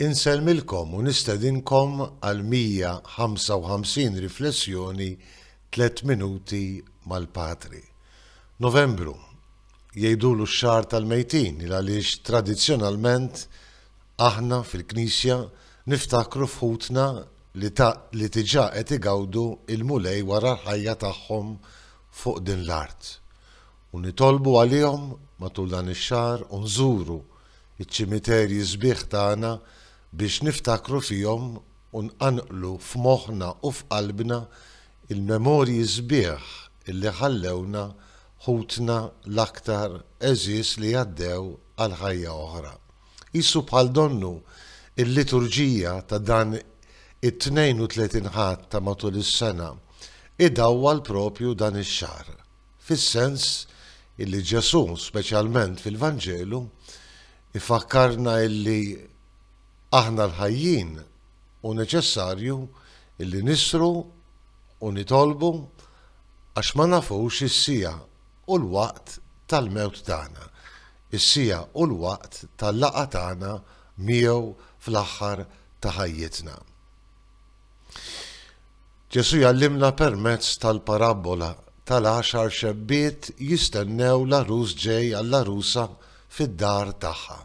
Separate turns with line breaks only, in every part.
Insellmilkom u nistedinkom għal 155 Riflessjoni Tliet Minuti mal-Patri. Novembru, Jgħidulu x-xahar tal-mejtin il għaliex tradizzjonalment aħna fil-Knisja niftakru f'ħutna li ta' li diġà qed igawdu il-Mulej wara l-ħajja tagħhom fuq din l-art. u nitolbu għalihom matul dan ix-xahar u nżuru ċ-ċimiterji sbieħ tagħna biex niftakru fihom u nqanqlu f'moħħna u f'qalbna l-memorji sbieħ li ħallewna ħutna l-aktar għeżież li għaddew għal ħajja oħra. Qisu bħal donnu l-liturġija ta' dan it-32 Ħadd ta' matul is-sena idawwal proprju dan ix-xahar. fis-sens illi Ġesù, speċjalment fil-Vanġelu, ifakkarna illi aħna l-ħajjin hu neċessarju illi nisru u nitolbu għax ma nafux is-siegħa u l-waqt tal-mewt tagħna, is-siegħa u l-waqt tal-laqgħa tagħna miegħu fl-aħħar ta' ħajjitna. Ġesù jgħallimna permezz tal-parabbola tal-għaxar xebbiet jistennew l-għarus ġej għall-għarusa fid-dar tagħha.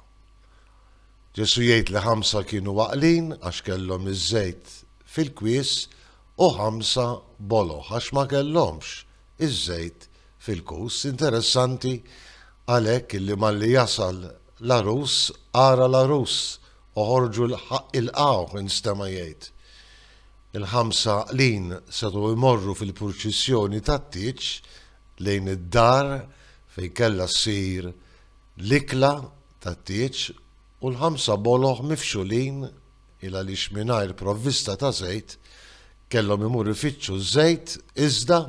Ġesù jgħid li ħamsa kienu waqlin għax kellhom iż-żejt fil-kwies u ħamsa boloħ għax ma kellhomx iż-żejt fil-kus. Interessanti għalhekk illi malli jasal l-għarus ara l-għarus Oħorġu 'l ħaqq ilqgħuh, instema' jgħid. Il-ħamsa għaqlin setgħu jmorru fil-purċissjoni tat-tieġ lejn id-dar fejn kellha ssir l-ikla tat-tieġ u l-ħamsa boloh mifxulin il għaliex mingħajr provvista ta' żejt kellhom imur ifittxu ż-żejt iżda,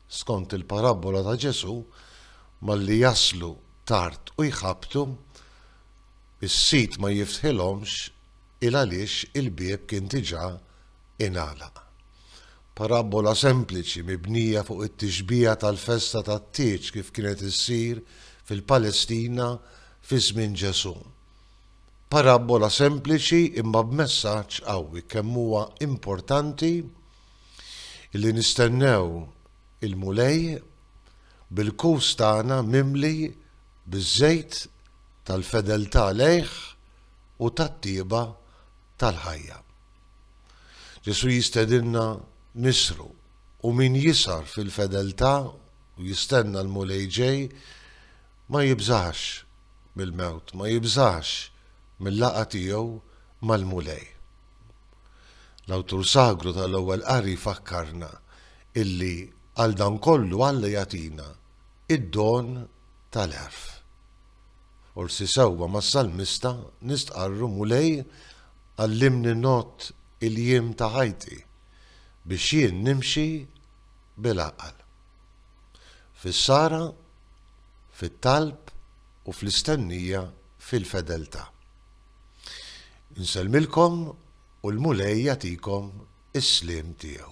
skont il-parabbola ta' Ġesù, malli jaslu tard u jħabbtu, Is-sit ma jiftħilhomx il għaliex il-bieb kien diġà ingħalaq. Parabbola sempliċi mibnija fuq it-tixbiha tal-festa tat-tieġ kif kienet issir fil-Palestina fi żmien Ġesù. Parabbola sempliċi imma b'messaġġ qawwi kemm huwa importanti li nistennew il-Mulej bil-kus tagħna mimli biż-żejt tal-fedeltà lejh u tat-tjieba tal-ħajja. Ġesù jistedinna nisru, u min jisgħar fil-fedeltà u jistenna l-Mulej ġej ma jibżax mill-mewt, ma jibżax mil-laqgħa tiegħu mal-Mulej. L-awtur sagru tal-Ewwel Qari jfakkarna illi għal dan kollu Alla jagħtina id-don tal-għerf. Forsi sewwa mas-salmista nistqarru, Mulej, għallimni ngħodd il-jiem ta' ħajti, biex jien nimxi bil-għaqal. Fis-sara, fit-talb u fl-istennija fil-fedeltà. Insellmilkom u l-Mulej jagħtikom is-sliem tiegħu.